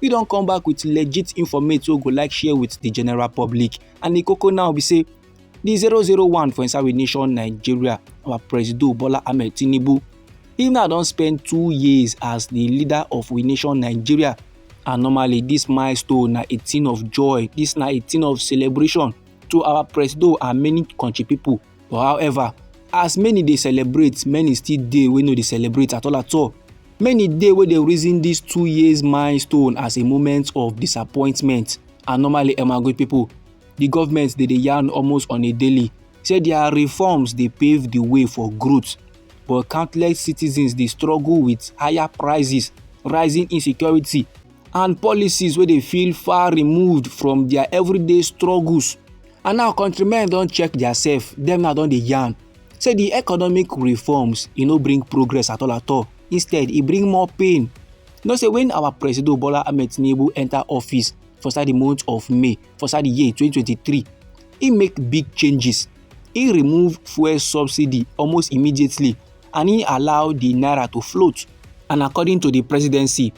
we don come back with legit informate wey we go like share with the general public and the koko now be say the zero zero one for inside we nation nigeria our presido bola ahmed tinubu he now don spend two years as the leader of we nation nigeria and normally this milestone na a thing of joy this na a thing of celebration to our presido and many country people But however, as many dey celebrate, many still dey wey no dey celebrate at all at all. Many dey wey dey reason this two years milestone as a moment of disappointment and normally Emagui people, the government dey dey yarn almost on a daily say their reforms dey pave the way for growth but countless citizens dey struggle with higher prices, rising insecurity and policies wey dey feel far removed from their everyday struggles and now countrymen don check diasef dem now don dey yarn say di economic reforms e no bring progress at all at all instead e bring more pain you know say when our president bola ahmed tinubu enter office for inside di month of may for inside di year 2023 e make big changes e remove fuel subsidy almost immediately and e allow di naira to float and according to di presidency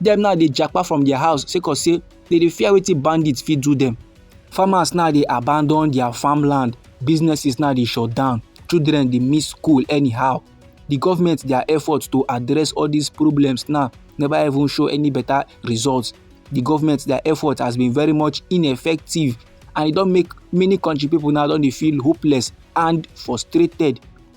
dem now dey japa from their house sake of say they dey fear wetin bandits fit do them. farmers now dey abandon their farmland businesses now dey shut down children dey miss school anyhow the government their efforts to address all these problems now never even show any better results the government their effort has been very much ineffective and e don make many country people now don dey feel hopeless and frustrated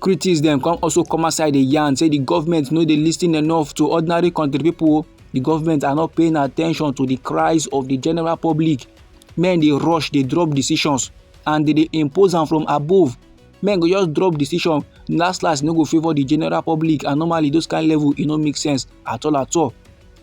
critics dem come also come outside dey yarn say di government no dey lis ten enough to ordinary country pipo di government are not paying attention to di cries of di general public men dey rush dey drop decisions and dey dey impose am from above men go just drop decision last last no go favour di general public and normally those kind level e no make sense at all at all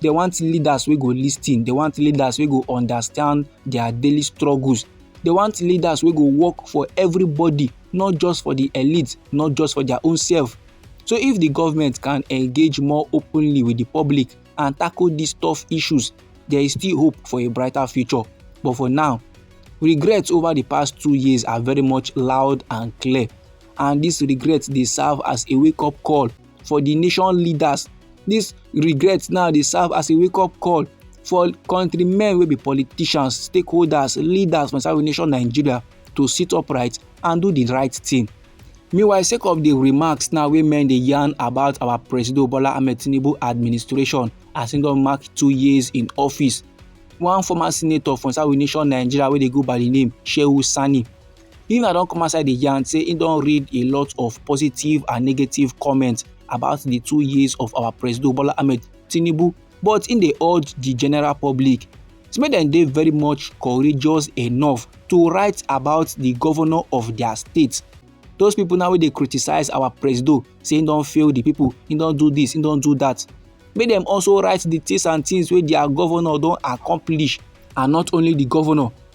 they want leaders wey go lis ten they want leaders wey go understand their daily struggles they want leaders wey go work for everybody not just for the elite not just for their own self so if the government can engage more openly with the public and tackle these tough issues there is still hope for a brighter future but for now regrets over the past two years are very much loud and clear and this regret dey serve as a wake up call for di nation leaders dis regret now dey serve as a wake up call for countrymen wey be politicians stakeholders leaders for inside nation nigeria to sit upright and do di right thing meanwhile sake of di remarks now wey men dey yarn about our presido bola ahmed tinubu administration as im don mark two years in office one former senator for inside nation nigeria wey dey go by di name shehu sani Nina don come outside dey yarn say he don read a lot of positive and negative comments about the two years of our President Bola Ahmed Tinubu, but in dey urge the general public say make dem dey very much courageous enough to write about the governor of their state. Those people now wey dey criticize our President say he don fail the people, he don do this, he don do that. Make dem also write the things and things wey their governor don accomplish and not only the governor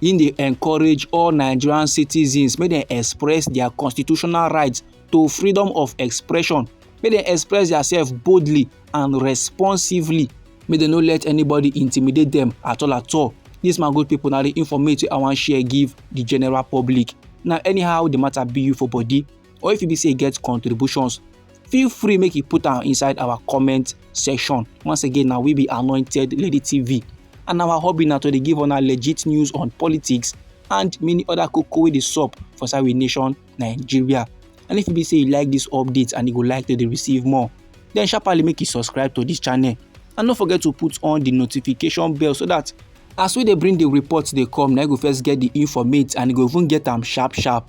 im dey encourage all nigerian citizens make dem express their constitutional rights to freedom of expression make dem express themselves boldly and responsively make dem no let anybody intimidate them at all at all this my good people na the informate wey i wan share give the general public na anyhow the matter be you for body or if e be say e get contributions feel free make you put am inside our comment section once again na we be anointed lady tv and our hobby na to dey give una legit news on politics and many other koko wey dey sup for inside we nation nigeria and if e be say you like this update and you go like to dey receive more then sharply make you subscribe to this channel and no forget to put on the notification bell so that as we dey bring the report dey come na you go first get the informate and you go even get am sharp sharp